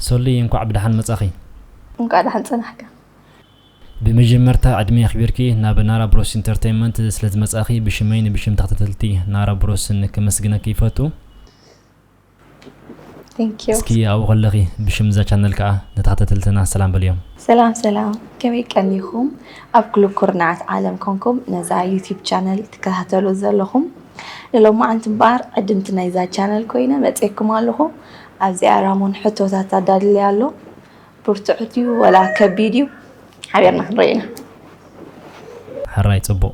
ሰሉይ እንኳዕ ብደሓን መጻኺ እንኳዕ ደሓን ጸናሕካ ብመጀመርታ ዕድሜ ኣኽቢርኪ ናብ ናራ ብሮስ ኢንተርቴንመንት ስለ ዝመጻኺ ብሽመይ ንብሽም ተኸታተልቲ ናራ ብሮስን ከመስግነኪ ይፈቱ እስኪ ኣብኡ ከለኺ ብሽም እዛ ቻነል ከዓ ንተኸታተልትና ሰላም በልዮም። ሰላም ሰላም ከመይ ቀኒኹም ኣብ ኩሉ ኩርናዓት ዓለም ኮንኩም ነዛ ዩቲብ ቻነል ትከታተሉ ዘለኹም ንሎማዓንቲ እምበኣር ዕድምቲ ናይዛ ቻነል ኮይነ መፅኤኩም ኣለኹ ኣብዚኣ ራሞን ሕቶታት ኣዳልለይ ኣሎ ብርቱዕ ድዩ ወላ ከቢድ እዩ ሓቢርና ክንሪኦ ኢና። ሕራይ ፅቡቅ።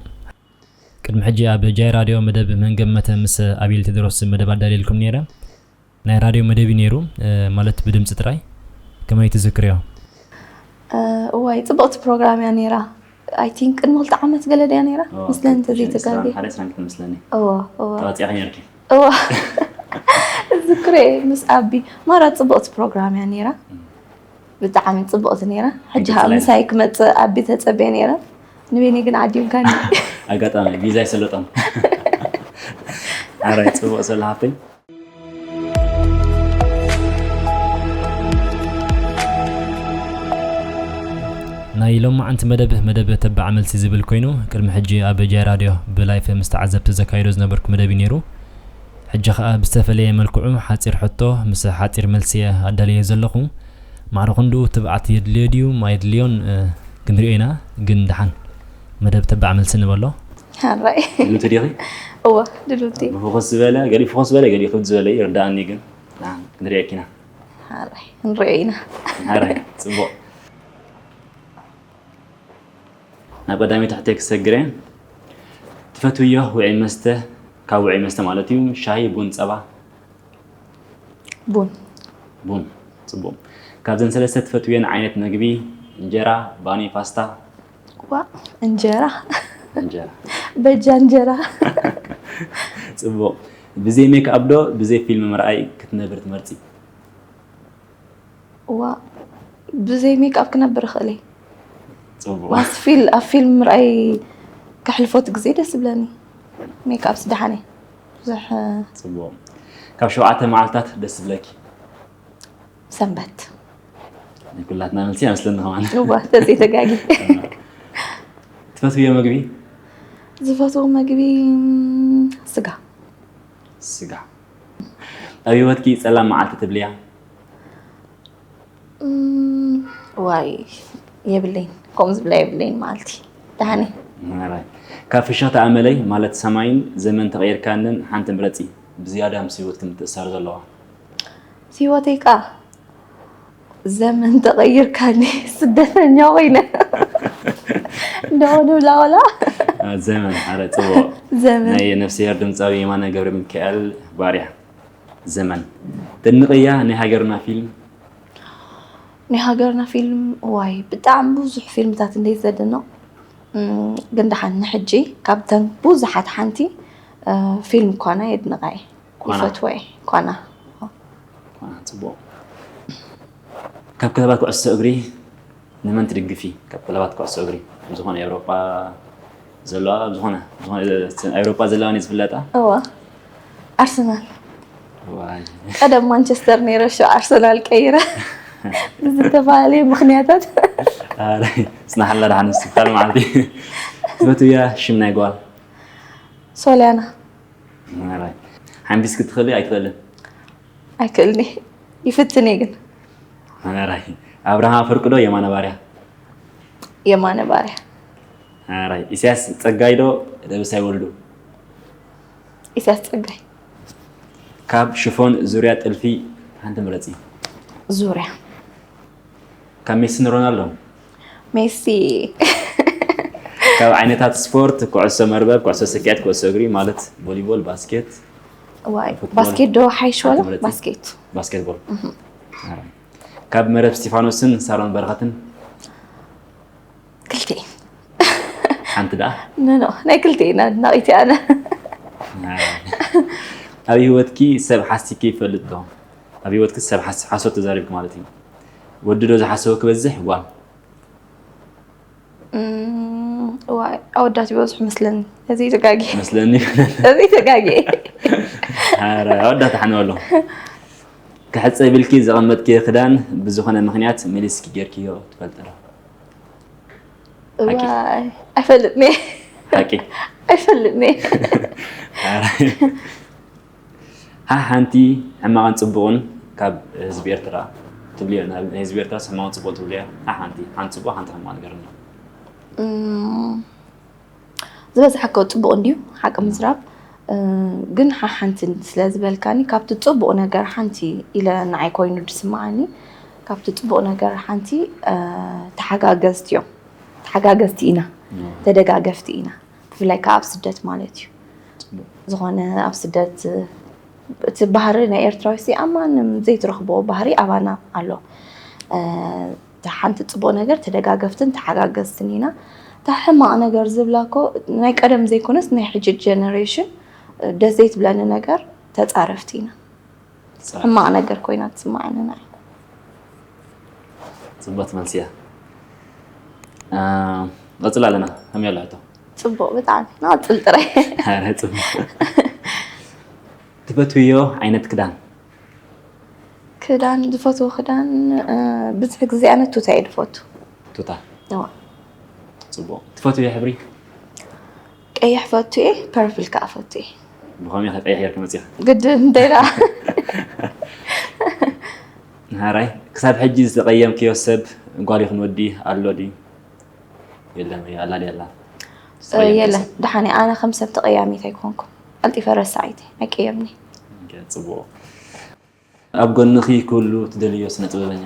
ቅድሚ ሕጂ ኣብ ጃይ ራድዮ መደብ መን ገመተ ምስ ኣቤል ቴድሮስ መደብ ኣዳልየልኩም ኔረ ናይ ራድዮ መደብ እዩ ኔሩ ማለት ብድምጺ ጥራይ ከመይ ትዝክርዮ? እዋይ ጽብቕቲ ፕሮግራም እያ ኔራ ኣይ ቲንክ ቅድሚ ክልተ ዓመት ገለ ድያ ኔራ ምስለኒ እንተዘይተጋግየ እወ እወ እወ እዝክሮ እየ ምስ ኣቢ ማራ ጽብቕቲ ፕሮግራም እያ ኔራ። ብጣዕሚ ፅብቕቲ ነይራ ሕጂ ከዓ ምሳይ ክመፅእ ኣቢ ተፀበየ ነይረ ንቤኒ ግን ዓዲምካኒ ኣጋጣሚ ቪዛ ይሰለጦም ኣራይ ፅቡቅ ሰለ ሃብተይ ናይ ሎማዓንቲ መደብ መደብ ተባዕ መልሲ ዝብል ኮይኑ ቅድሚ ሕጂ ኣብ ጃይ ራድዮ ብላይፍ ምስ ተዓዘብቲ ዘካይዶ ዝነበርኩ መደብ እዩ ነይሩ ሕጂ ከኣ ብዝተፈለየ መልክዑ ሓጺር ሕቶ ምስ ሓጺር መልሲ'የ ኣዳልየዮ ዘለኹ። ማዕረ ክንድኡ ትብዓት የድልዮ ድዩ ኣየድልዮን ክንሪኦ ኢና ግን ደሓን መደብ ተባዕ መልሲ ንበሎ። ሕራይ። ድልውቲ ዲኺ? እወ ድልውቲ። ብፍኹስ ዝበለ ገሊኡ ፍኹስ ዝበለ ገሊኡ ክብድ ዝበለ እዩ ይርድኣኒ ግን ደሓን ክንሪኤኪ ኢና። ሕራይ ክንሪኦ ኢና። ሕራይ ጽቡቕ። ናብ ቀዳመይቲ ሕቶይ ክሰግር እየ። ትፈትውዮ ውዑይ መስተ ካብ ውዑይ መስተ ማለት እዩ ሻሂ፣ ቡን፣ ጸባ? ቡን። ቡን ጽቡቕ። ካብዘን ሰለስተ ትፈትውየን ዓይነት መግቢ እንጀራ፣ ባኒ፣ ፓስታ? ዋ እንጀራ እንጀራ። በጃ እንጀራ። ጽቡቕ። ብዘይ ሜክኣፕ ዶ ብዘይ ፊልም ምርኣይ ክትነብሪ ትመርጺ? እዋ ብዘይ ሜክኣፕ ክነብር እኽእል እየ ፅቡቅ ዋስ ፊል ኣብ ፊልም ምርኣይ ከሕልፎት ግዜ ደስ ዝብለኒ ሜክኣፕ ስደሓነ ብዙሕ ፅቡቅ ካብ ሸውዓተ መዓልታት ደስ ዝብለኪ ሰንበት ናይ ኩላትና መልሲ ኣይመስለኒ ከማን እዋ ተዘይ ተጋጊ ትፈትውዮ ምግቢ ዝፈትዎ ምግቢ ም፣ ስጋ ስጋ ኣብ ህይወትኪ ጸላም መዓልቲ ትብልያ? ዋይ የብለይን ከምኡ ዝብላ የብለይን መዓልቲ ደሓን እየ ካብ ፍሽኽታ ኣመለይ ማለት ሰማይን ዘመን ተቐይርካንን ሓንቲ ምረፂ ብዝያዳ ምስ ህይወትኪ ምትእሳር ዘለዋ ምስ ህይወተይ ከዓ ዘመን ተቐይርካኒ ስደተኛ ኮይነ ደወሉ ላወላ ዘመን ኣረ ፅቡቕ ዘመን ናይ ነፍስሄር ድምፃዊ የማነ ገብረ ሚካኤል ባርያ ዘመን ተድንቕያ ናይ ሃገርና ፊልም ናይ ሃገርና ፊልም ዋይ ብጣዕሚ ብዙሕ ፊልምታት እንደ ዘድንቕ እም፣ ግን ደሓን ንሕጂ ካብተን ብዙሓት ሓንቲ እ፣ ፊልም ኳና የድንቓ እየ ኳና? ይፈትዎ እየ ኳና ካብ ክለባት ኩዕሶ እግሪ ንመን ትድግፊ? ካብ ክለባት ኩዕሶ እግሪ ኣብ ዝኾነ ኤውሮጳ ዘለዋ ኣብ ዝኾነ ኤውሮጳ ዘለዋ እኔ ዝፍለጣ እዋ ኣርሰናል ቀደም ማንቸስተር ነይረ ሸ ኣርሰናል ቀይረ ብዝተፈላለየ ምክንያታት ፅናሓላ ድሓን ምስትፍካል መዓልቲ ትፈትውያ ሽም ናይ ጓል ሶልያና ሓንቢስ ክትኸሊ ኣይትኽእልን ኣይክእልኒ ይፍትን እየ ግን ኣራይ ኣብርሃ ፍርቂ ዶ የማነ ባርያ የማነ ባርያ ኣራይ ኢሳያስ ፀጋይ ዶ ደብሳይ ወልዱ ኢሳያስ ፀጋይ ካብ ሽፎን ዙርያ ጥልፊ ሓንቲ ምረፂ ዙርያ ካብ ሜሲን ሮናልዶን ሜሲ ካብ ዓይነታት ስፖርት ኩዕሶ መርበብ፣ ኩዕሶ ስኪዔት፣ ኩዕሶ እግሪ ማለት ቮሊቦል፣ ባስኬት፣ ዋይ ፉትቦል። ባስኬት ዶ ሓይሽ ሓንቲ ወላ ምረጺ። ባስኬት ባስኬትቦል። ካብ መረብ እስጢፋኖስን ሳሮን በረኸትን ክልቲኤን ሓንቲ ደኣ ኖኖ ናይ ክልቲኤን ኣድናቂት እየ ኣነ ኣብ ህይወትኪ ሰብ ሓሲኪ ይፈልጥ ዶ? ኣብ ሂወትኪ ሰብ ሓሶት ተዛሪብኪ ማለት እዩ ወዲ ዶ ዝሓሰወ ክበዝሕ ጓል እዋይ ኣወዳት ይበዝሑ መስለኒ እዚ ተጋጊ መስለኒ እዚ ተጋጊ ኧረ ኣወዳት ሓነው ኣሎ ክሕፀ ብልኪ ዘቐመጥኪ ክዳን ብዝኾነ ምክንያት መሊስኪ ጌርክዮ ትፈልጢ ዶ እዋይ ኣይፈልጥኒ ሓቂ ኣይፈልጥኒ ሓሓንቲ ሕማቕን ጽቡቕን ካብ ህዝቢ ኤርትራ ትብልዮ ናይ ህዝቢ ኤርትራ ሕማቕን ጽቡቕን ትብልዮ ሓሓንቲ ሓንቲ ጽቡቕ ሓንቲ ሕማቕ ነገር ኣሎ ዝበዝሐ ከ ጽቡቕ እንድዩ ሓቂ ምዝራብ ግን ሓሓንቲ ስለ ዝበልካኒ ካብቲ ጽቡቕ ነገር ሓንቲ ኢለ ንዓይ ኮይኑ ዝስምዓኒ ካብቲ ጽቡቕ ነገር ሓንቲ ተሓጋገዝቲ እዮም ተሓጋገዝቲ ኢና ተደጋገፍቲ ኢና ብፍላይ ከዓ ኣብ ስደት ማለት እዩ ዝኾነ ኣብ ስደት እቲ ባህሪ ናይ ኤርትራዊ ሲ ኣብ ማንም ዘይትረኽቦ ባህሪ ኣባና ኣሎ እታ ሓንቲ ፅቡቅ ነገር ተደጋገፍትን ተሓጋገዝትን ኢና እታ ሕማቅ ነገር ዝብላ እኮ ናይ ቀደም ዘይኮነስ ናይ ሕጂ ጀነሬሽን ደስ ዘይትብለኒ ነገር ተፃረፍቲ ኢና ሕማቕ ነገር ኮይና ትስማዓኒ ናይ ፅቡቅ መልሲ እያ ቀፅል ኣለና ከመይ ኣሎ ሕቶ ፅቡቅ ብጣዕሚ ንቐፅል ጥራይ ኧረ ፅቡቅ ትፈትውዮ ዓይነት ክዳን ክዳን ዝፈትዎ ክዳን እ፣ ብዙሕ ግዜ ኣነ ቱታ እየ ዝፈቱ ቱታ እዋ። ፅቡቅ ትፈትውዮ ሕብሪ ቀይሕ ፈቱ እየ ፐርፕል ከዓ ፈቱ እየ ብኸመይ ከ ቀይሕ ጌርካ መፂኻ ግድን እንታይ ደኣ ንሃራይ ክሳብ ሕጂ ዝተቐየምክዮ ሰብ ጓል ይኹን ወዲ ኣሎ ድዩ የለን ወይ ኣላ ድያ ኣላ ዝተቐየምክዮ የለን ሰብ? ደሓን እየ ኣነ ከም ሰብ ተቐያሚት ኣይኮንኩ ቀልጢፈ ረሳዒት እየ ኣይቀየምኒ ፅቡቕ ኣብ ጎንኺ ክህሉ ትደልይዮ ስነ ጥበበኛ?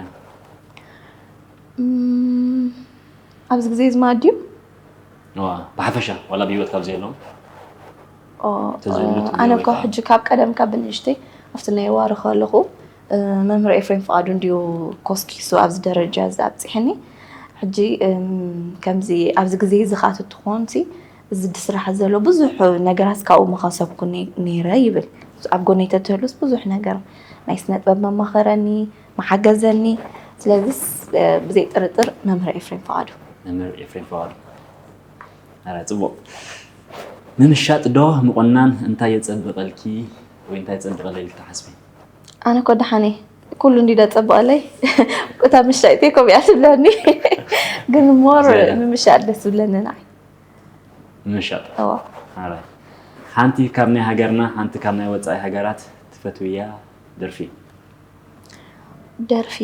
ኣብዚ ግዜ እዚ ማለት ድዩ? እዋ ብሓፈሻ ዋላ ብሂወት ካብ ዘየለዉ ተዝህሉ ትብልዮ ኣነ ወይ እኮ ከኣ ሕጂ ካብ ቀደም ካብ ብንእሽተይ ኣብቲ ናይ ዋሪ ከለኹ መምህር ኤፍሬም ፍቓዱ እንድዩ ኮስኪሱ ኣብዚ ደረጃ እዚ ኣብጺሐኒ ሕጂ ከምዚ ኣብዚ ግዜ እዚ ከኣ ተትኾንሲ እዚ ብስራሕ ዘሎ ብዙሕ ነገራት ካብኡ ምኸሰብኩ ነይረ ይብል። ኣብ ጎነይ ተትህሉስ ብዙሕ ነገር ናይ ስነጥበብ መማኸረኒ፣ ምሓገዘኒ። ስለዚስ ብዘይ ጥርጥር መምህር ኤፍሬም ፍቓዱ። መምህር ኤፍሬም ፍቓዱ ኣረ ጽቡቕ ምምሻጥ ዶ ምቑናን እንታይ የጸብቐልኪ ወይ እንታይ የጸብቐለይ ኢልኪ ትሓስቢ? ኣነ እኮ ደሓን እየ ኩሉ እንዲ ዘጸብቐለይ እታ ምሻጥ እየ ከምኡ እያ ትብለኒ ግን ሞር ምምሻጥ ደስ ዝብለኒ ንዓይ ንምሻጥ እወ ኣራይ ሓንቲ ካብ ናይ ሃገርና ሓንቲ ካብ ናይ ወጻኢ ሃገራት ትፈትውያ ደርፊ። ደርፊ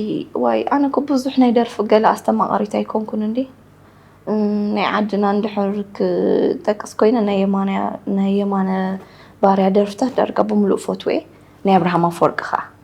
ዋይ ኣነ እኮ ብዙሕ ናይ ደርፊ ገለ ኣስተማቓሪት ኣይኮንኩን እንዲ ናይ ዓድና እንድሕር ክጠቅስ ኮይነ ናይ የማነ ናይ የማነ ባርያ ደርፍታት ዳርጋ ብምሉእ ፈትወ ናይ ኣብርሃም ኣፈወርቂ ከኣ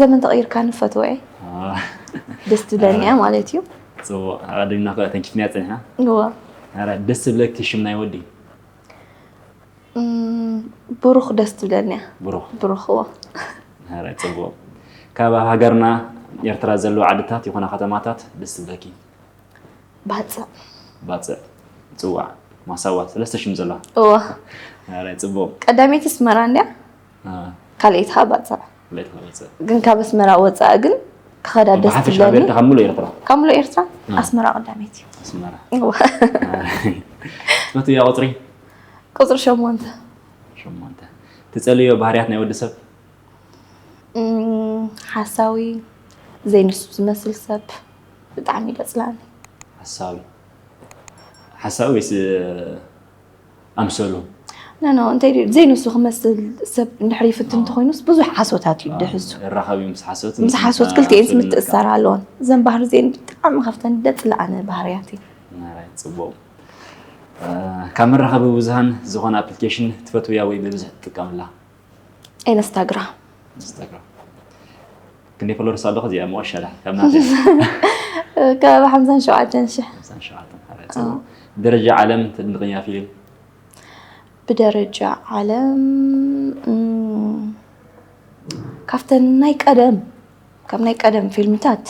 ዘመን ተቐይርካ ንፈትወ ደስ ትብለኒ ማለት እዩ ፅቡቅ ኣቀዲምና ከ ተንኪፍናያ ፀኒሕና እዎ ኧረ ደስ ዝብለኪ ሽም ናይ ወዲ ብሩኽ ደስ ትብለኒ እያ ብሩኽ ብሩኽ እዎ ኧረ ፅቡቅ ካብ ኣብ ሃገርና ኤርትራ ዘለዉ ዓድታት ይኹና ከተማታት ደስ ዝብለኪ ባፅዕ ባፅዕ ፅዋዕ ማሳዋ ሰለስተ ሽም ዘለዋ እዎ ኧረ ፅቡቅ ቀዳመይቲ ኣስመራ እንድያ ካልኤት ኸኣ ባጽዕ ግን ካብ ኣስመራ ወጻኢ ግን ክኸዳ ደስ ትብለኒ ካብ ሙሉእ ኤርትራ ካብ ሙሉእ ኤርትራ ኣስመራ ቀዳመይቲ እዩ ኣስመራ ትፈቱ እያ ቁፅሪ ቁፅሪ ሸሞንተ ሸሞንተ ትፀልዮ ባህርያት ናይ ወዲ ሰብ ሓሳዊ ዘይንሱ ዝመስል ሰብ ብጣዕሚ ደፅላኒ ሓሳዊ ሓሳዊ ወይስ ኣምሰሉ ኖ ኖ እንታይ ድዩ ዘይንሱ ክመስል ሰብ እንድሕር ይፍትን እንተኾይኑስ ብዙሕ ሓሶታት እዩ ድሕዙ ይራኸብ እዩ ምስ ሓሶት ምስ ሓሶት ክልቲኤን ምትእስሳር ኣለዎን እዘን ባህሪ እዚአን ብጣዕሚ ካብተን ደፅለኣነ ባህርያት እዩ ናራይ ፅቡቕ እ፣ ካብ መራኸቢ ብዙሃን ዝኾነ ኣፕሊኬሽን ትፈትውያ ወይ ብብዝሒ ትጥቀምላ ኢንስታግራም ኢንስታግራም ክንደይ ፎሎወርስ ኣለኹ እዚኣ መወሸላ ካብ ናተ ከባቢ ሓምሳን ሸውዓተን ሽሕ ሓምሳን ሸውዓተን ሓራይ ፅቡቕ ብደረጃ ዓለም ተድንቕያ ፊልም ብደረጃ ዓለም እም፣ ካብተን ናይ ቀደም ካብ ናይ ቀደም ፊልምታት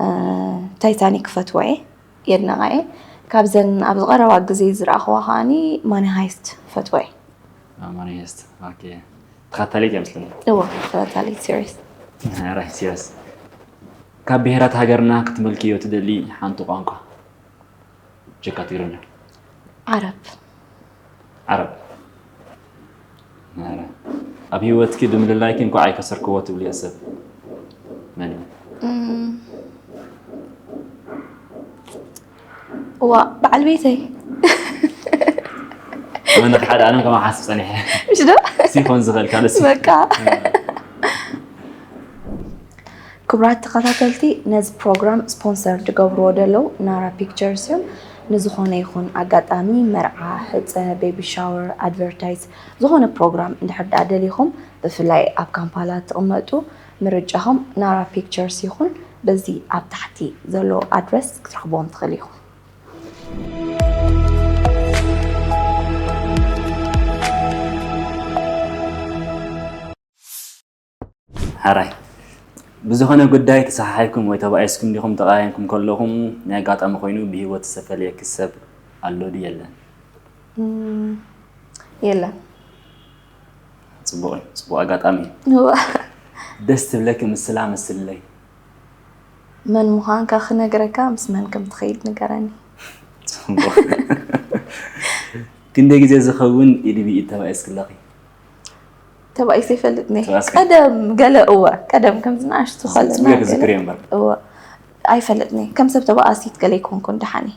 አ፣ ታይታኒክ ፈትዋ እየ የድነቓ እየ ካብዘን ኣብዚ ቀረባ ግዜ ዝረኣኹዋ ከዓኒ ማኒ ሃይስት ፈትዋ እየ ማኒሄስት ኦኬ ተኸታሊት እያ ምስለኒ እዎ ተኸታሊት ሲሪስ ራይ ሲሪስ ካብ ብሄራት ሃገርና ክትመልክዮ ትደሊ ሓንቲ ቋንቋ ጀካ ትግርኛ ዓረብ ዓረብ ኣብ ህይወትኪ ብምልላይኪ እንኳዕ ኣይከሰርክዎ ትብልዮ ሰብ መን እዩ እዋእ በዓል ቤተይ ኣነ ሓደ ኣለም ከማ ሓስብ ፀኒሐ ምሽ ዶ ሲኾን ዝኽእል ካልእ ሲ- በቃ ክቡራት ተኸታተልቲ ነዚ ፕሮግራም ስፖንሰር ዝገብርዎ ዘለዉ ናራ ፒክቸርስ እዮም ንዝኾነ ይኹን ኣጋጣሚ መርዓ ሕፀ ቤቢ ሻወር ኣድቨርታይዝ ዝኾነ ፕሮግራም እንድሕር ደኣ ደሊኹም ብፍላይ ኣብ ካምፓላ ትቕመጡ ምርጫኹም ናራ ፒክቸርስ ይኹን። በዚ ኣብ ታሕቲ ዘሎ ኣድረስ ክትረኽብዎም ትኽእሉ ኢኹም። ሐራይ ብዝኾነ ጉዳይ ተሰሓሒብኩም ወይ ተባኢስኩም ዲኹም ተቐያይምኩም ከለኹም ናይ ኣጋጣሚ ኮይኑ ብሂወት ዝተፈለየኪ ሰብ ኣሎ ድዩ የለን? የለን። ፅቡቅ እዩ ፅቡቅ ኣጋጣሚ እዩ ደስ ትብለኪ ምስላ መስልለይ መን ምዃንካ ክነግረካ ምስ መን ከም ትኸይድ ንገረኒ ፅቡቅ ክንደይ ግዜ ዝኸውን ኢድ ብኢድ ተባኢስ ክለኺ ተባኢሰ ይፈልጥ ነ ተባኢስኪ? ቀደም ገለ እወ ቀደም ከምዚ ንኣሽቱ ፅቡቅ ከለና እዩ ክዝክር እየ እምበር እወ ኣይፈልጥኒ ከም ሰብ ተባኣሲት ገለ ይኮንኩን ደሓን እየ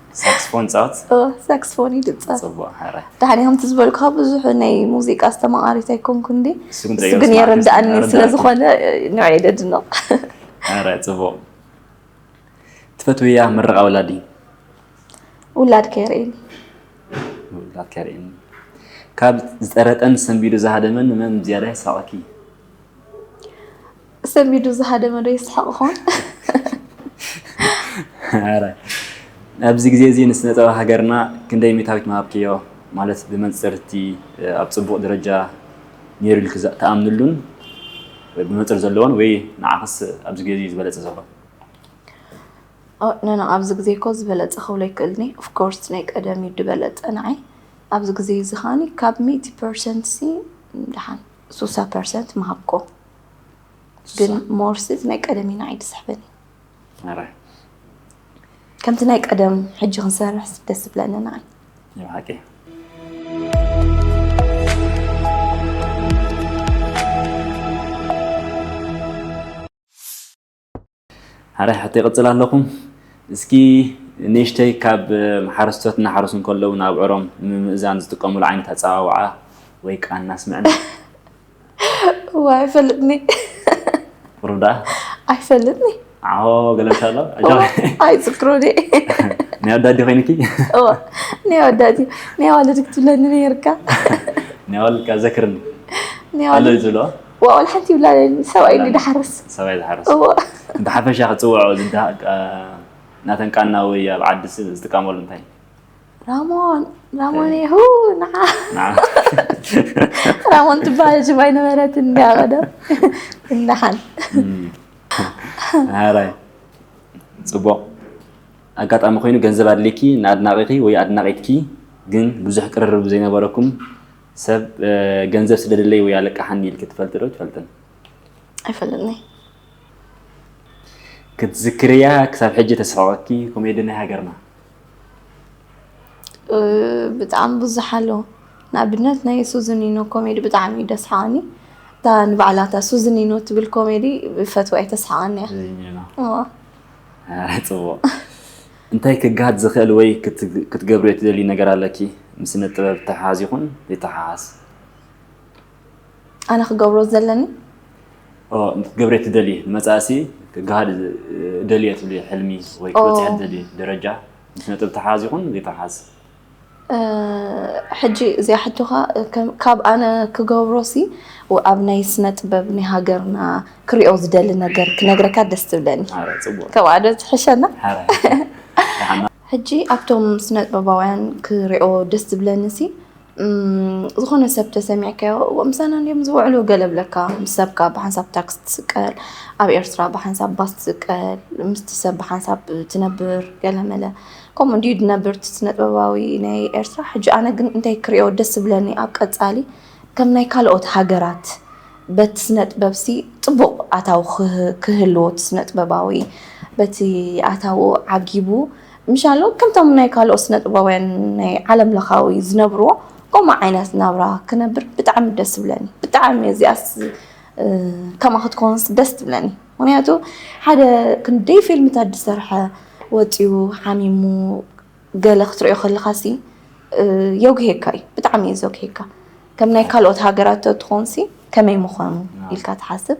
ሳክስፎን ፃወት ሳክስፎን ይድፀፍ ፅቡቅ ሓራ ድሓን እዮም ዝበልኩ ካብ ብዙሕ ናይ ሙዚቃ ዝተማቃሪት ኣይኮንኩ እንዲ እሱ ግን እሱ ግን የረዳእኒ ስለዝኾነ ንዕይ ደድነቕ ሓራ ፅቡቅ ትፈትውያ ምርቃ ወላዲ ውላድ ከይርእኒ ውላድ ከርእኒ ካብ ዝጠረጠን ሰንቢዱ ዝሃደመን መን ዝያዳ የሳቀኪ ሰሚዱ ዝሃደመ ዶ የስሕቕ ኾን? ኣብዚ ግዜ እዚ ንስነ ጥበብ ሃገርና ክንደይ ሚእታዊት ምሃብክዮ ማለት ብመንጽር እቲ ኣብ ጽቡቕ ደረጃ ነይሩ ኢልኪ ትኣምንሉን ብመንጽር ዘለዎን ወይ ንዓኽስ ኣብዚ ግዜ እዚ ዝበለጸ ዘሎ? ኖኖ ኣብዚ ግዜ እኮ ዝበለጸ ክብሎ ኣይክእልኒ ኦፍኮርስ ናይ ቀደም እዩ ዝበለጸ ንዓይ ኣብዚ ግዜ እዚ ከኣ ካብ ሚእቲ ፐርሰንት ሲ ደሓን ሱሳ ፐርሰንት ምሃብኮ ግን ሞርሲ እዚ ናይ ቀደም ኢና ዓይዲ ስሕበኒ ከምቲ ናይ ቀደም ሕጂ ክንሰርሕ ደስ ዝብለኒ ንዓይ ሓቂ ሐራይ ሕቶ ይቅጽል ኣለኩ እስኪ ንእሽተይ ካብ ሓረስቶት እናሓረሱ እንከለዉ ንኣብዑሮም ንምምእዛን ዝጥቀምሉ ዓይነት ኣጸዋውዓ ወይ ቃና ኣስምዕና። እዋይ ኣይፈልጥኒ ቁሩብ ደኣ ኣይፈልጥኒ ዓሆ ገለ ምስ ኣሎ እዋ ኣይዝክሮን እየ ናይ ኣወዳዲ ኮይንኪ እዋ ናይ ኣወዳዲ ናይ ኣዋልድ ክትብለኒ ነይርካ ናይ ኣዋልድ ከኣ ዘክርኒ ናይ ኣሎ ኣዋልድ እዩ ዝብልዎ ዋእ ዋላ ሓንቲ ይብላን ሰብኣይ እንዲ ድሓርስ ሰብኣይ ዝሓርስ እዎ ብሓፈሻ ክፅውዖ ዝዳ- ቃ- ናተን ቃና ወይ ኣብ ዓዲ ስ- ዝጥቀመሉ እንታይ ራሞን ራሞን ይሁ ንዓ ንዓ- ራሞን ትበሃል ሽም ኣይነበረትን እንዲያ ቀደም እንዳሓን ሃራይ ፅቡቕ ኣጋጣሚ ኮይኑ ገንዘብ ኣድልይኪ ንኣድናቂኺ ወይ ኣድናቂትኪ ግን ብዙሕ ቅርርብ ዘይነበረኩም ሰብ ገንዘብ ስለ ደለይ ወይ ኣለቃሓኒ ኢልኪ ትፈልጢ ዶ ትፈልጥን? ኣይፈልጥንይ። ክትዝክርያ ክሳብ ሕጂ ተስሕቐኪ ኮሜዲ ናይ ሃገርና? ብጣዕሚ ብዙሕ ኣሎ። ንኣብነት ናይ ሱዝኒኖ ኮሜዲ ብጣዕሚ እዩ ደስሓኒ እታ ንባዕላ እታ ሱዝኒኖ ትብል ኮሜዲ ፈትዋ እየ ተስሓቀኒ እያ ፅቡቅ እንታይ ክገሃድ ዝኽእል ወይ ክትገብርዮ ትደልዩ ነገር ኣለኪ ምስ ስነ ጥበብ ዝተሓሓዝ ይኹን ዘይተሓሓዝ? ኣነ ክገብሮ ዘለኒ? ክትገብርዮ ትደልዪ ንመጻእሲ ክገሃድ እደልዮ ትብልዮ ሕልሚ ወይ ክትበጽሕዮ ትደልዪ ደረጃ ምስ ስነ ጥበብ ዝተሓሓዝ ይኹን ዘይተሓሓዝ? ሕጂ እዚኣ ሕቶ ከኣ ካብ ኣነ ክገብሮሲ ኣብ ናይ ስነ ጥበብ ናይ ሃገርና ክሪኦ ዝደሊ ነገር ክነግረካ ደስ ትብለኒ ካብኣ ዶ ትሕሸና ሕጂ ኣብቶም ስነ ጥበባውያን ክሪኦ ደስ ዝብለኒሲ ዝኾነ ሰብ ተሰሚዕካዮ ምሳና እንድዮም ዝውዕሉ ገለ እብለካ ምስ ሰብካ ብሓንሳብ ታክሲ ትስቀል ኣብ ኤርትራ ብሓንሳብ ባስ ትስቀል ምስቲ ሰብ ብሓንሳብ ትነብር ገለ መለ ከምኡ እንድዩ ድነብር እቲ ስነጥበባዊ ናይ ኤርትራ ሕጂ ኣነ ግን እንታይ ክሪኦ ደስ ዝብለኒ ኣብ ቀጻሊ ከም ናይ ካልኦት ሃገራት በቲ ስነጥበብሲ ጽቡቕ ኣታዊ ክህልዎ እቲ ስነጥበባዊ በቲ ኣታዊ ዓጊቡ ምሻሎ ከምቶም ናይ ካልኦት ስነጥበባውያን ናይ ዓለም ለኻዊ ዝነብርዎ ከምኡ ዓይነት ናብራ ክነብር ብጣዕሚ ደስ ዝብለኒ ብጣዕሚ እዚኣስ ከማ ክትኮንስ ደስ ትብለኒ። ምክንያቱ ሓደ ክንደይ ፊልምታት ዝሰርሐ ወፂኡ ሓሚሙ ገለ ክትሪኦ ከለካ ሲ የጉሄካ እዩ ብጣዕሚ እዩ ዘጉሄካ ከም ናይ ካልኦት ሃገራት ተትኾን ሲ ከመይ ምዃኑ ኢልካ ትሓስብ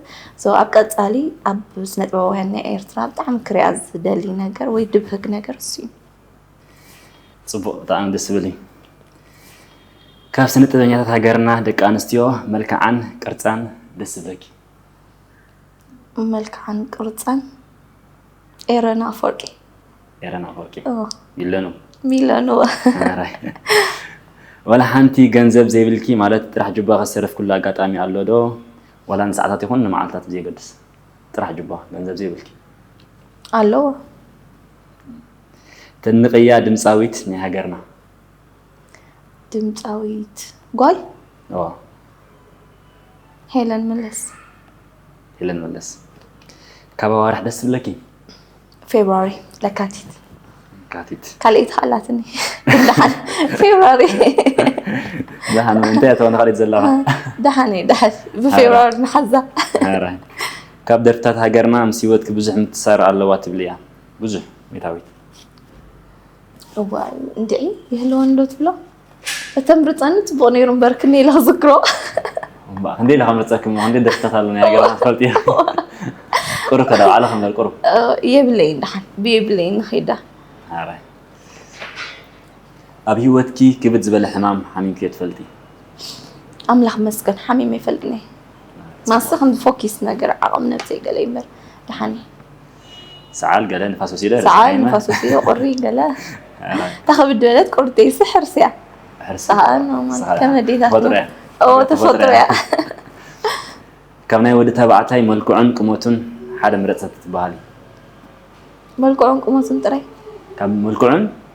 ኣብ ቀፃሊ ኣብ ስነ ጥበባውያን ናይ ኤርትራ ብጣዕሚ ክሪያ ዝደሊ ነገር ወይ ድብህግ ነገር እሱ እዩ ፅቡቅ ብጣዕሚ ደስ ዝብል እዩ ካብ ስነ ጥበበኛታት ሃገርና ደቂ ኣንስትዮ መልክዓን ቅርፃን ደስ ዝብለኪ መልክዓን ቅርፀን ኤረን ኣፈወርቂ ኤረን ኣፈወርቂ ሚለኑ ሚለኑ ዋላ ሓንቲ ገንዘብ ዘይብልኪ ማለት ጥራሕ ጁባ ከሰረፍኩሉ ኣጋጣሚ ኣሎ ዶ ዋላ ንሰዓታት ይኹን ንመዓልታት ብዘየገድስ ጥራሕ ጁባ ገንዘብ ዘይብልኪ ኣለዎ ተንቕያ ድምፃዊት ናይ ሃገርና ድምፃዊት ጓል ዋ ሄለን መለስ ሄለን መለስ ካብ ኣዋርሕ ደስ ዝብለኪ ፌብራሪ ለካቲት ካቲት ካልኢት ኣላትኒ ደሓን ፌብራሪ ደሓን እንታይ እተወ ንካልኢት ዘለኻ ደሓን እዩ ደሓን ብፌብራሪ ንሓዛ ኧረ፣ ካብ ደርፍታት ሃገርና ምስ ህይወትኪ ብዙሕ ምትሳር ኣለዋ ትብሊ እያ ብዙሕ ቤታዊት እዋይ እንድዒ ይህልወን ዶ ትብሎ እተምርፀኒ ፅቡቅ ነይሩ እምበር ክንደይ ኢለ ክዝክሮ እምበኣር ክንደይ ኢለ ከምርፀኪ እሞ ክንደይ ደርፍታት ኣለኒ ሃገርና ክትፈልጢ እየ ቁሩብ ከዳ ባዕለ ክምበር ቁሩብ እ፣ የብለይን ድሓን ብየብለይን ንኸይዳ ሓራይ ኣብ ሂወትኪ ክብድ ዝበለ ሕማም ሓሚምኪ ዶ ትፈልጢ ኣምላኽ መስገን ሓሚመ ይፈልጥኒ ማሰ ከምዚ ፎኪስ ነገር ዓቕም ነብሰይ ገለ ይምበር ድሓን እየ ሰዓል ገለ ንፋስ ወሲደ ሰዓል ንፋስ ወሲደ ቁሪ ገለ እታ ከብድ በለት ቁሪ ተይሲ ሕርሲ እያ ሰዓል ከመዴታት ተፈጥሮ እያ ካብ ናይ ወዲ ተባዕታይ መልክዑን ቅመቱን ሓደ ምረፅ ትበሃል መልክዑን ቅመቱን ጥራይ ካብ መልክዑን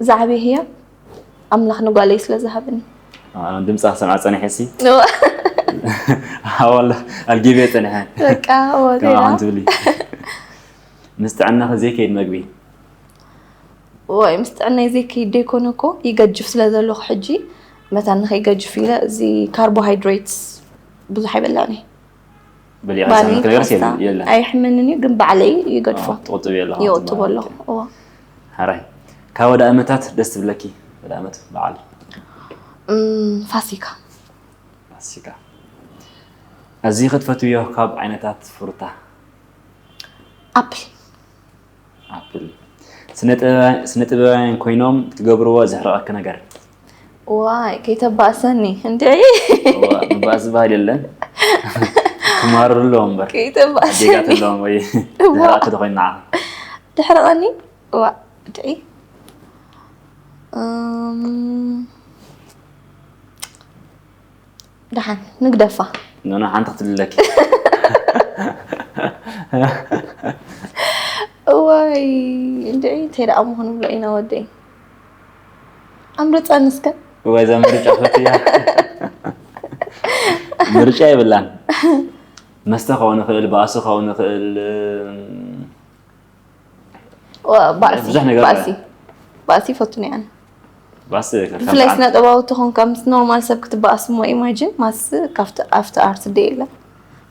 ዛዕበይ ህያብ ኣምላኽ ንጓለይ ስለ ዝሃብኒ ድምፃ ክሰምዓ ፀኒሐ ሲ ዋላ ኣልጊበ ፀኒሐ ከምዓኹም ትብሊ ምስ ጥዕናኺ ዘይከይድ መግቢ ወይ ምስ ጥዕናይ ዘይከይድ ደይኮነ እኮ ይገጅፍ ስለ ዘለኹ ሕጂ መታን ንኸይገጅፍ ኢለ እዚ ካርቦሃይድሬትስ ብዙሕ ኣይበላዕን እየ ባኒ ፓስታ ኣየሕምንን እዩ ግን ባዕለይ ይገድፎ ትቁጥብ የለ ይቁጥቦ ኣለኹ እዎ ሓራይ ካብ ወደ ኣመታት ደስ ትብለኪ ወደ ኣመት በዓል ፋሲካ ፋሲካ ኣዝዩ ክትፈትውዮ ካብ ዓይነታት ፍሩታ ኣፕል ኣፕል ስነ ጥበባውያን ኮይኖም ትገብርዎ ዘሕርቐኪ ነገር ዋይ ከይተባእሰኒ እንዲ ባእሲ ባህል የለን ክማርሩ ኣለዎ እምበር ዜጋት ኣለዎም ወይ ዘሕርቐኪ ተኮይኑ ንዓ ተሕርቐኒ ዋ ድዒ ደሓን ንግደፋ ኖኖ ሓንቲ ክትልለኪ እዋይ እንድዒ እንታይ ደኣ ምኾኑ ብሎ ኢና ወደይ ኣምርፀኒ እስከ ወዛ ምርጫ ፈትያ ምርጫ የብላን መስተ ክኸውን ይኽእል ባእሲ ክኸውን ይኽእል ባእሲ ብዙሕ ነገር ባእሲ ባእሲ ይፈቱ ነይ ኣነ ባስ ብፍላይ ስነ ጥበባዊ ትኾን ካብ ምስ ኖርማል ሰብ ክትበኣስ እሞ ኢማጂን ማስ ካብቲ ኣብቲ ኣርት ደ የለ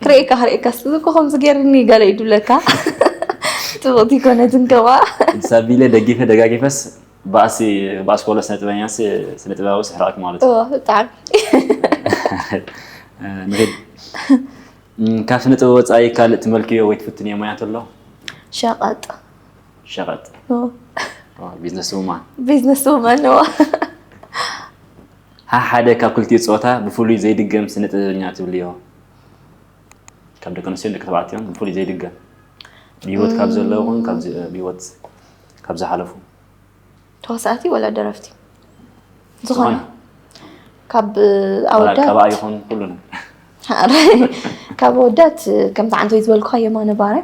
ክርእየካ ክርእየካ ስዝኮ ከምዚ ገይርኒ ገለ ይዱለካ ፅቡቕቲ ኮነትን ከማ ሳቢለ ደጊፈ ደጋጊፈስ ባእሲ ባእሲ ኮሎ ስነ ጥበበኛ ስነ ጥበባዊ ስሕራኣክ ማለት እዩ ብጣዕሚ ንኺድ ካብ ስነ ጥበብ ወፃኢ ካልእ ትመልክዮ ወይ ትፍትንዮ ሞያ እንተሎ? ሸቐጥ ሸቐጥ ቢዝነስ ውማን ቢዝነስ ውማን ሓደ ካብ ክልቲኡ ፆታ ብፍሉይ ዘይድገም ስነ ጥበበኛ ትብልዮ ካብ ደቂ ኣንስትዮን ደቂ ተባዕትዮን ብፍሉይ ዘይድገም ብሂወት ካብ ዘለዉ ይኹን ብሂወት ካብ ዝሓለፉ ተዋሳእቲ ወላ ደረፍቲ ዝኾነ ካብ ኣወዳት ይኹን ኩሉ ካብ ኣወዳት ከምቲ ዓንተ ዝበልኩ የማነ ባረ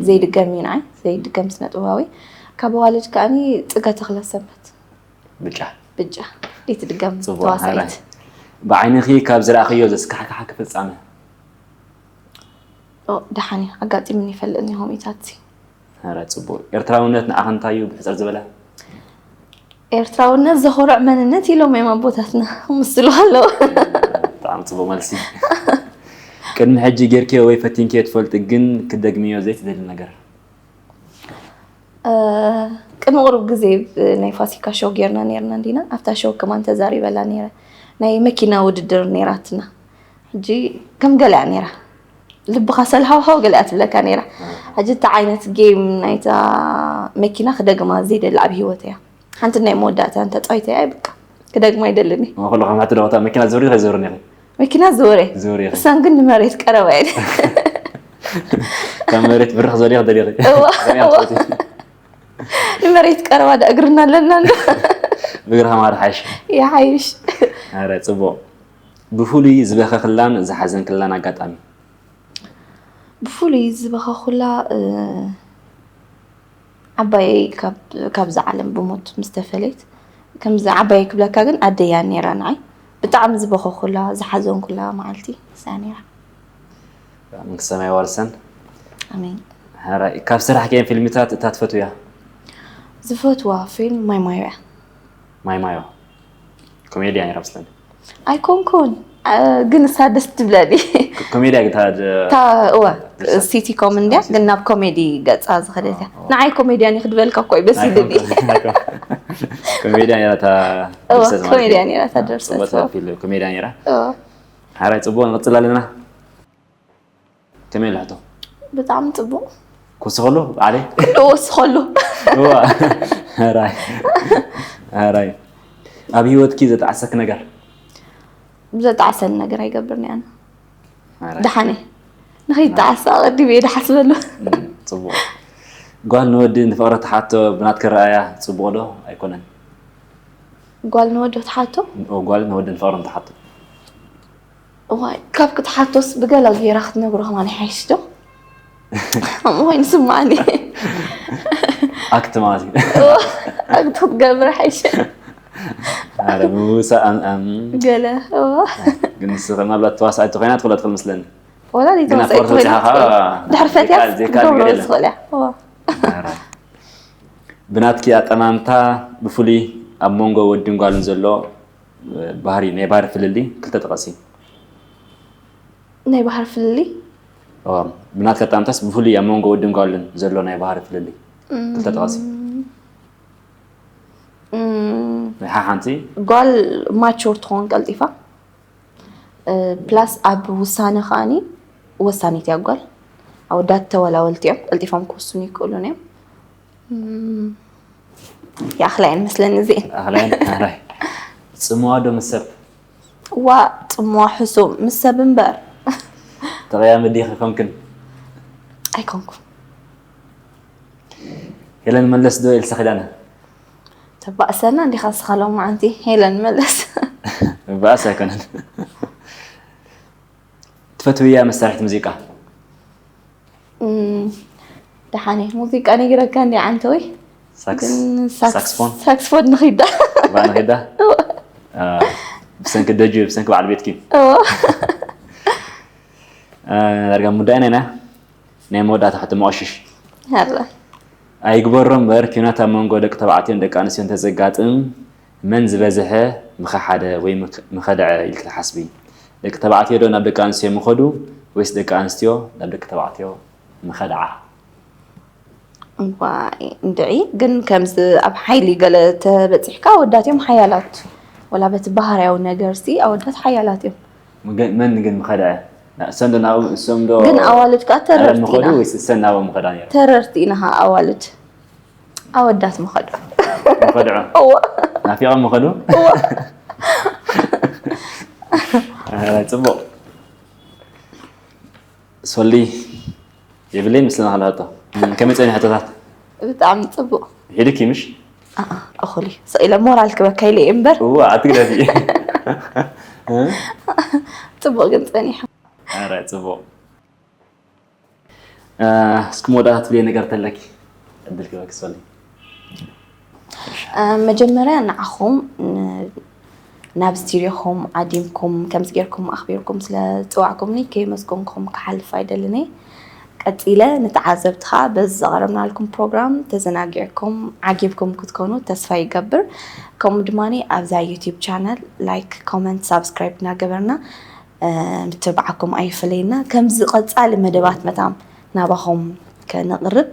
ዘይድገም እዩ ንዓይ ዘይድገም ስነ ጥበባዊ ካብ ኣዋልድ ከዓኒ ፅገ ተኽለ ሰንበት ብጫ ብጫ ይትድገም ተዋሳኢት ብዓይንኺ ካብ ዝረኣኽዮ ዘስካሕካሓ ክፍፃመ ደሓን እዩ ኣጋጢሙን ይፈልጥን እዩ ሆሚታት ኣረ ጽቡቅ ኤርትራውነት ንዓኺ እንታይ እዩ ብሕጽር ዝበለ ኤርትራውነት ዘኾርዕ መንነት ኢሎም እዮም ኣቦታትና ምስሉ ኣለዎ ብጣዕሚ ጽቡቅ መልሲ ቅድሚ ሕጂ ጌርክዮ ወይ ፈቲንክዮ ትፈልጢ ግን ክደግምዮ ዘይትደሊ ነገር ቅድሚ ቅሩብ ግዜ ናይ ፋሲካ ሾው ጌርና ነርና እንዲና ኣብታ ሾው ከማን ተዛሪበላ ነረ ናይ መኪና ውድድር ነራትና ሕጂ ከም ገሊኣ ነይራ ልብኻ ሰልሃውሃው ገሊኣ ትብለካ ነይራ ሕጂ እቲ ዓይነት ጌም ናይታ መኪና ክደግማ ዘይደሊ ኣብ ሂወት እያ ሓንቲ ናይ መወዳእታ እንተፃዊተ እያ ይብቃ ክደግማ ይደልን እዩ ኩሉ ከም ሕቲ ደቕታ መኪና ዝብሪ ከይዝብሪ ነኺ መኪና ዝወረ ዝብሪ እሳን ግን ንመሬት ቀረባ እየ ካብ መሬት ብርኽ ዘለ ክደሊኺ ንመሬት ቀረባ ዳ እግርና ኣለና ብእግርኻ ማር ሓይሽ ይሓይሽ ረ ፅቡቕ ብፍሉይ ዝበኸክላን ዝሓዘንክላን ኣጋጣሚ? ብፍሉይ ዝበኸኩላ ዓባየይ ካብዛ ዓለም ብሞት ምስ ተፈለየት ከምዚ ዓባየይ ክብለካ ግን ኣደይ እያ ነይራ ንዓይ ብጣዕሚ ዝበኸኩላ ዝሓዘንኩላ መዓልቲ ንሳ ነይራ። መንግስተ ሰማይ የዋርሰን። ኣሜን። ሐራይ ካብ ስራሕክየን ፊልምታት እታ ትፈትውያ? ዝፈትዋ ፊልም ማይ ማዮ እያ። ማይማዮ ኮሜድያ ነይራ መስለኒ ኣይኮንኩን ግን እሳ ደስ ትብለኒ ኮሜድያ ግን እታ እወ ሲቲ ኮም እንድያ ግን ናብ ኮሜዲ ገፃ ዝኸደት እያ ንዓይ ኮሜድያ ኒ ክድበልካ እኮ እዩ በስ ይልኒ ኮሜድያ ነይራ እታ እወ ድርሰት ማለት ኮሜድያ እዩ። ነይራ እታ ድርሰት፣ ጽቡቕ እዋ። ፊልም ኮሜድያ ነይራ እወ ሓራይ ፅቡቅ ንቅፅል ኣለና ከመይ ኣላ ሕቶ ብጣዕሚ ፅቡቅ ክወስኸሉ ባዕለይ ኩሉ ወስኸሉ ራይ ኣብ ሂወትኪ ዘጣዕሰክ ነገር ዘጣዕሰኒ ነገር ኣይገብርን እያ ደሓነ ንኸይጣዓስ ኣቐዲመ እየ ዝሓስበሉ ፅቡቅ ጓል ንወዲ ንፍቕሪ ትሓቶ ብናትክ ረኣያ ፅቡቅ ዶ ኣይኮነን ጓል ንወዲ ትሓቶ ጓል ንወዲ ንፍቕሪ ትሓቶ እዋይ ካብ ክትሓቶስ ብገለ ጌራ ክትነግሮ ከማን ይሓይሽ ዶ እዋይ ንስማዕኒ ኣክት ማለት እዩ ኣክት ክትገብር ሓይሽ ኣረ ምውሳእ ገለ ግን ንስ ምናልባት ተዋሳኢት ኮይና ትኽእሎ ትኽእል ምስለኒ ወላ ዘይተዋሳኢት ኮይና ድሕሪ ፈትያ ክትገብሮ ዝኽእል እያ ብናትኪ ኣጠማምታ ብፍሉይ ኣብ መንጎ ወድን ጓልን ዘሎ ባህሪ ናይ ባህሪ ፍልልይ ክልተ ጠቐሲ ናይ ባህሪ ፍልልይ ብናትካ ኣጠማምታስ ብፍሉይ ኣብ መንጎ ወድን ጓልን ዘሎ ናይ ባህሪ ፍልልይ ክልተ ጠቐሲ ናይ ሓንቲ ጓል ማቹር ትኸውን ቀልጢፋ ፕላስ ኣብ ውሳነ ከዓኒ ወሳኒት እያ ጓል ኣወዳት ተወላወልቲ እዮም ቀልጢፎም ክውስኑ ይክእሉን እዮም ይኣኽላ እየን መስለኒ እዚኤን ኣኽላይን ኣራይ ጽምዋ ዶ ምስ ሰብ ዋ ጽምዋ ሕሱም ምስ ሰብ እምበር ተቐያሚ ዲኺ ኮንክን ኣይኮንኩን ሄለን መለስ ዶ ኤልሳ ኪዳነ ተባእሰና እንዲኻ ንስኻ ሎማዓንቲ ሄለን መለስ ባእስ ኣይኮነን ትፈትውያ መሳርሕቲ ሙዚቃ? ደሓነ ሙዚቃ ነጊረካ እንዲ ዓንተወይ ሳክስፎን ሳክስፎን ንኺዳ ንኺዳ ብሰንኪ ደጁ ብሰንኪ በዓል ቤትኪ ዳርጋ ሙዳይና ኢና ናይ መወዳእታ ሕቶ መቐሽሽ ኣይግበሮ እምበር ኪናት ኣብ መንጎ ደቂ ተባዕትዮን ደቂ ኣንስትዮን ተዘጋጥም መን ዝበዘሐ ምኸሓደ ወይ ምኸደዐ ኢልኪ ትሓስቢ? ደቂ ተባዕትዮ ዶ ናብ ደቂ ኣንስትዮ ምኸዱ ወይስ ደቂ ኣንስትዮ ናብ ደቂ ተባዕትዮ ምኸድዓ? እዋይ እንድዒ ግን ከምዚ ኣብ ሓይሊ ገለ ተበጺሕካ ኣወዳት እዮም ሓያላት ወላ በቲ ባህርያዊ ነገርሲ ኣወዳት ሓያላት እዮም። መን ግን ምኸድዐ? እሰን ዶ ናብኦም እሶም ዶ ግን ኣዋልድ ከኣ ተረርቲ ኢና ምኸዱ ወይስ እሰን ናብኦም ምኸዳ ነይረን? ተረርቲ ኢና ከኣ ኣዋልድ። ኣወዳት መኸዱ መኸድዑ ናፊቐም መኸዱ ፅቡቕ ሶሊ የብለይ ምስልና ካልኣቶ ከመይ ፀኒ ሕቶታት ብጣዕሚ ፅቡቕ ሒድኪ ምሽ እኹል እዩ ስቕ ኢለ ሞራል ክበካ ኢለ እየ እምበር እዋ ኣትግደፊ ፅቡቕ ግን ፀኒሖ ኧረ ፅቡቕ እስኪ መወዳእታ ትብልየ ነገር ተለኪ ዕድል ክበኪ ሰሊ መጀመርያ ንዓኹም ናብ ስቲርዮኹም ዓዲምኩም ከምዚ ጌርኩም ኣኽቢርኩም ስለ ዝፅዋዕኩምኒ ከየመስገንኩም ክሓልፍ ኣይደልን እየ ቀፂለ ንተዓዘብቲ ከዓ በዚ ዘቕረብናልኩም ፕሮግራም ተዘናጊዕኩም ዓጊብኩም ክትኮኑ ተስፋ ይገብር ከምኡ ድማ ኣብዛ ዩቲብ ቻነል ላይክ ኮመንት ሳብስክራይብ እናገበርና ምትብባዓኩም ኣይፈለየና። ከምዚ ቀጻሊ መደባት መታን ናባኹም ከነቕርብ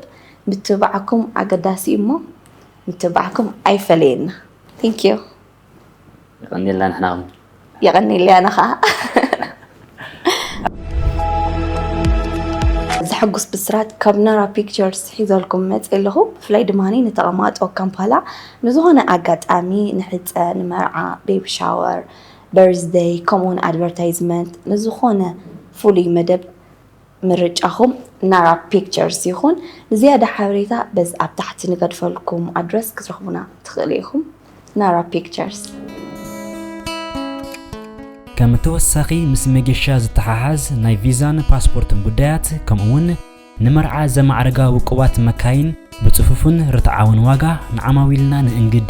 ምትብባዓኩም ኣገዳሲ እዩ እሞ ምትብባዕኩም ኣይፈለየና። Thank you። የቐኔልና ንሕና ውን የቐኔለይ ኣነ ኸኣ። ዘሐጉስ ብስራት ካብ ናራ ፒክቸርስ ሒዘልኩም መጸ ኣለኹ። ብፍላይ ድማ ንተቐማጦ ካምፓላ ንዝኾነ ኣጋጣሚ ንሕጸ፣ ንመርዓ፣ ቤቢ ሻወር፣ በርዝደይ ከምኡውን ኣድቨርታይዝመንት ንዝኾነ ፍሉይ መደብ ምርጫኹም ናራ ፒክቸርስ ይኹን። ንዝያዳ ሓበሬታ በዚ ኣብ ታሕቲ ንገድፈልኩም ኣድረስ ክትረኽቡና ትኽእሉ ኢኹም። ናራ ፒክቸርስ። ከም ተወሳኺ ምስ መገሻ ዝተሓሓዝ ናይ ቪዛን ፓስፖርትን ጉዳያት ከምኡ እውን ንመርዓ ዘማዕርጋ ውቁባት መካይን ብጽፉፍን ርትዓውን ዋጋ ንዓማዊልና ንእንግድ።